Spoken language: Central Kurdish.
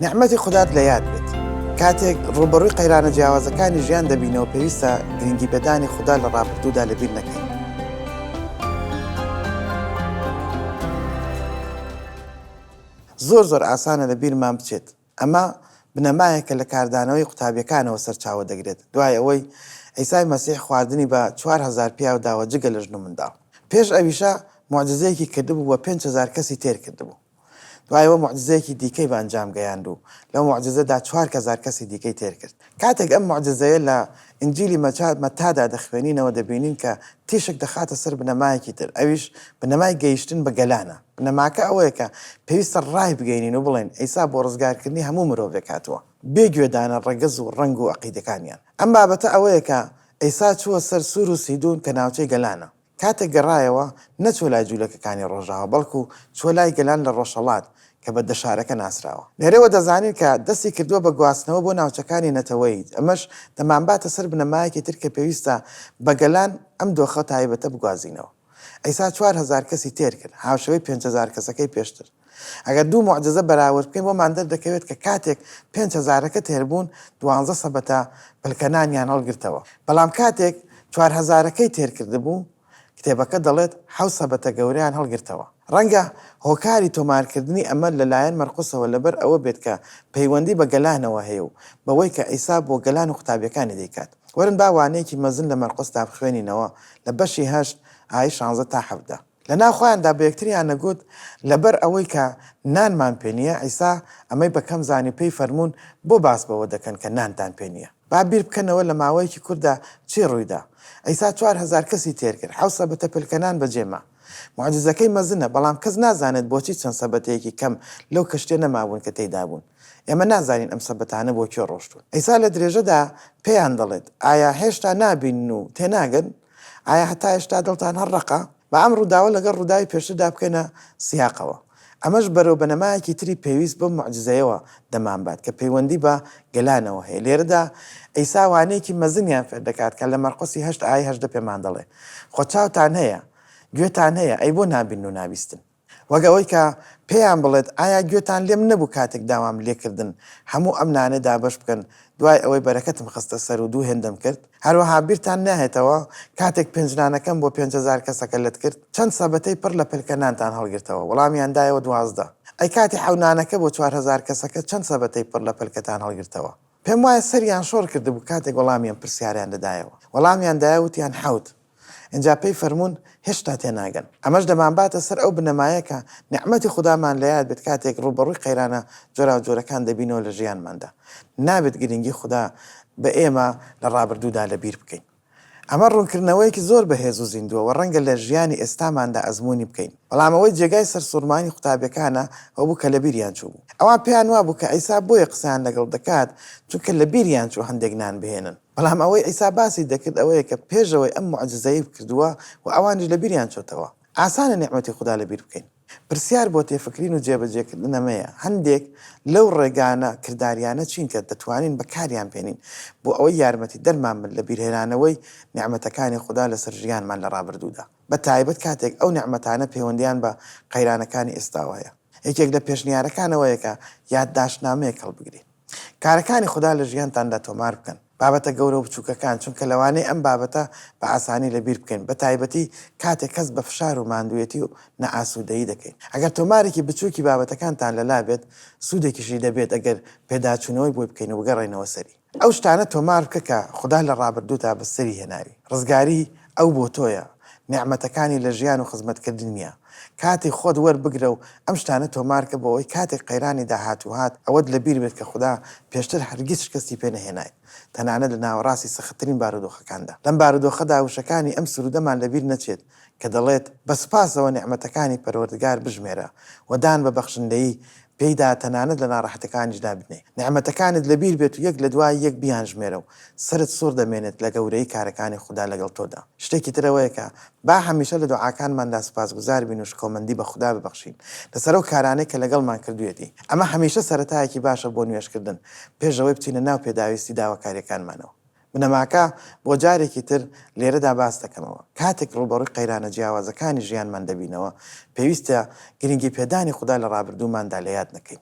نیعمەتی خودات لە یاد بێت. کاتێک ڕووبەڕووی قەیرانە جیاوازەکانی ژیان دەبینەوە پێویستە گرنگیپێدانی خودا لە ڕابردوودا لەبیر نەکەین. زۆر زۆر ئاسانە لە بیرمان بچێت. ئەمە بنەمایەکە لە کاردانەوەی قوتابیەکانەوە سەرچاوە دەگرێت دوای ئەوەی عیسای مەسیح خواردنی بە چوار هەزار پیاو داوە جگە لە ژن و منداڵ. پێش ئەویشە موعجزەیەکی کردبوو و پێنج هەزار کەسی تێر کردبوو. دوای ئەوە موعجزەیەکی دیکەی بە ئەنجام گەیاند و لەو موعجزەدا چوار کەزار کەسی دیکەی تێر کرد. کاتێک ئەم موعجزەیە لە ئینجیلی مەچا، مەتادا دەخوێنینەوە دەبینین کە تیشک دەخاتە سەر بنەمایەکی تر ئەویش بنەمای گەیشتن بە گەلانە. بنەماکە ئەوەیە کە پێویستە ڕایبگەینین و بڵێین عیسا بۆ ڕزگارکردنی هەموو مرۆڤێک هاتووە بێ گوێدانە ڕەگەز و ڕەنگ و عەقیدەکانیان. ئەم بابەتە ئەوەیە کە عیسا چووە سەر سور و سیدون کە ناوچەی گەلانە. کاتێک گەڕایەوە نەچووە لای جوولەکەکانی ڕۆژاوا بەڵکو چووە لای گەلان لە ڕۆژهەڵات کە بە دەشارەکە ناسراوە. لێرەوە دەزانین کە دەستی کردووە بە گواستنەوە بۆ ناوچەکانی نەتەوەیی، ئەمەش دەمانباتە سەر بنەمایەکی تر کە پێویستە بە گەلان ئەم دۆخە تایبەتە بگوازینەوە. عیسا چوار هەزار کەسی تێر کرد، هاوشێوەی پێنج هەزار کەسەکەی پێشتر. ئەگەر دوو موعجزە بەراورد بکەین بۆمان دەردەکەوێت کە کاتێک پێنج هەزارەکە تێربوون دوانزە سەبەتە پلکەنانیان هەڵگرتەوە بەڵام کاتێک چوار هەزارەکەی تێرکردبوو کتێبەکە دەڵێت حەوت سەبەتە گەورەیان هەڵگرتەوە ڕەنگە هۆکاری تۆمارکردنی ئەمە لەلایەن مەرقوسەوە لەبەر ئەوە بێت کە پەیوەندی بە گەلانەوە هەیە و بەوەی کە عیسا بۆ گەلان و قوتابیەکانی دەیکات وەرن با وانەیەکی مەزن لە مەرقوسدا بخوێنینەوە لە بەشی هەشت ئای شانزە تا حەڤدە. لە ناو خۆیاندا بە یەکتریان نەگوت، لەبەر ئەوەی کە نانمان پێ نییە، عیسا ئەمەی بە کەم زانی پێی فەرموون، بۆ باس بەوە دەکەن کە نانتان پێ نییە؟ با بیر بکەنەوە لە ماوەیەکی کورتدا چی ڕووی دا. عیسا چوار هەزار کەسی تێر کرد، حەوت سەبەتە پلکە نان بە جێ ما. موعجیزەکەی مەزنە، بەڵام کەس نازانێت بۆچی چەند سەبەتەیەکی کەم لەو کەشتییە نەمابوون کە تێیدا بوون. ئێمە نازانین ئەم سەبەتانە بۆ کوێ ڕۆشتوون. عیسا لە درێژەدا پێیان دەڵێت، ئایا هێشتا نابینن و تێناگەن؟ ئایا هەتا ئێشتا دڵتان هەر ڕەقە؟ با ئەم ڕووداوە لەگەڵ ڕووداوی پێشتردا بکەینە سیاقەوە. ئەمەش بەرەو بنەمایەکی تری پێویست بەو موعجیزەیەوە دەمانبات کە پەیوەندی بە گەلانەوە هەیە. لێرەدا عیسا وانەیەکی مەزنیان فێر دەکات کە لە مەرقسی هەشت ئایەی هەژدە پێمان دەڵێ، خۆ چاوتان هەیە، گوێتان هەیە، ئەی بۆ نابینن و نابیستن؟ وەک ئەوەی کە پێیان بڵێت ئایا گوێتان لێم نەبوو کاتێک داوام لێکردن هەموو ئەم نانە دابەش بکەن دوای ئەوەی بەرەکەتم خستە سەر و دوو هێندەم کرد؟ هەروەها بیرتان ناهێتەوە کاتێک پێنج نانەکەم بۆ پێنج هەزار کەسەکە لەت کرد چەند سەبەتەی پڕ لە پەلکە نانتان هەڵگرتەوە؟ وەڵامیان دایەوە دوازدە. ئەی کاتی حەو نانەکە بۆ چوار هەزار کەسەکە چەند سەبەتەی پڕ لە پەلکەتان هەڵگرتەوە؟ پێم وایە سەریان شۆڕ کردبوو کاتێک وەڵامی ئەم پرسیارەیان دەدایەوە. وەڵامیان دایە وتیان حەوت. ئینجا پێی فەرموون، هێشتا تێناگەن. ئەمەش دەمانباتە سەر ئەو بنەمایە کە نیعمەتی خودامان لە یاد بێت کاتێک ڕووبەڕووی قەیرانە جۆراوجۆرەکان دەبینەوە لە ژیانماندا. نابێت گرنگی خودا بە ئێمە لە ڕابردوودا لەبیر بکەین. ئەمە ڕوونکردنەوەیەکی زۆر بەهێز و زیندووە و ڕەنگە لە ژیانی ئێستاماندا ئەزموونی بکەین. بەڵام ئەوەی جێگای سەرسووڕمانی قوتابیەکانە ئەوە بوو کە لەبیریان چووبوو. ئەوان پێیان وابوو کە عیسا بۆیە قسەیان لەگەڵ دەکات چونکە لەبیریان چوو هەندێک نان بهێنن. بەڵام ئەوەی عیسا باسی دەکرد ئەوەیە کە پێش ئەوەی ئەم موعجیزەیەی بکردووە و ئەوانیش لەبیریان چۆتەوە. ئاسانە نیعمەتی خودا لەبیر بکەین. پرسیار بۆ تێفکرین و جێبەجێکردن ئەمەیە، هەندێک لەو ڕێگانە کردارییانە چین کە دەتوانین بەکاریان بێنین بۆ ئەوەی یارمەتیدەرمان بن لە بیرهێنانەوەی نیعمەتەکانی خودا لەسەر ژیانمان لە ڕابردوودا، بەتایبەت کاتێک ئەو نیعمەتانە پێوەندییان بە قەیرانەکانی ئێستاوە هەیە؟ یەکێک لە پێشنیارەکان ئەوەیە کە یادداشتنامەیەک هەڵبگرین. کارەکانی خودا لە ژیانتاندا تۆمار بکەن، بابەتە گەورە و بچووکەکان، چونکە لەوانەیە ئەم بابەتە بە ئاسانی لەبیر بکەین، بەتایبەتی کاتێک هەست بە فشار و ماندووێتی و نائاسوودەیی دەکەین. ئەگەر تۆمارێکی بچووکی بابەتەکانتان لەلا بێت، سوودێکیشی دەبێت ئەگەر پێداچوونەوەی بۆی بکەین و بگەڕێینەوە سەری. ئەو شتانە تۆمار بکە کە خودا لە ڕابردوودا بەسەری هێناوی، ڕزگاری، ئەو بۆ تۆیە، نیعمەتەکانی لە ژیان و خزمەتکردن نییە. کاتی خۆت وەربگرە و ئەم شتانە تۆمارکە بۆ ئەوەی کاتێک قەیرانی داهاتوو هات، ئەوەت لە بیر بێت کە خودا پێشتر هەرگیز شکستی پێ نەهێنایت، تەنانەت لە ناوەڕاستی سەختترین بارودۆخەکاندا. لەم بارودۆخەدا وشەکانی ئەم سروودەمان لە بیر نەچێت کە دەڵێت، بە سوپاسەوە نیعمەتەکانی پەروەردگار بژمێرە و دان بە بەخشندەیی پێیدا تەنانەت لە ناڕەحەتەکانیشدا بنێ نیعمەتەکانت لەبیر بێت و یەک لەدوای یەک بیانژمێرە و سەرت سوڕ دەمێنێت لە گەورەیی کارەکانی خودا لەگەڵ تۆدا شتێکی تر ئەوەیە کە با هەمیشە لە دوعاکانماندا سوپاسگوزار بین و شکۆمەندی بە خودا ببەخشین لەسەر ئەو کارانەی کە لەگەڵمان کردوویەتی ئەمە هەمیشە سەرەتایەکی باشە بۆ نوێژکردن پێش ئەوەی بچینە ناو پێداویستی داواکاریەکانمانەوە بنەماکە بۆ جارێکی تر لێرەدا باس دەکەمەوە. کاتێک ڕووبەڕووی قەیرانە جیاوازەکانی ژیانمان دەبینەوە، پێویستە گرنگیپێدانی خودا لە ڕابردووماندا لەیاد نەکەین.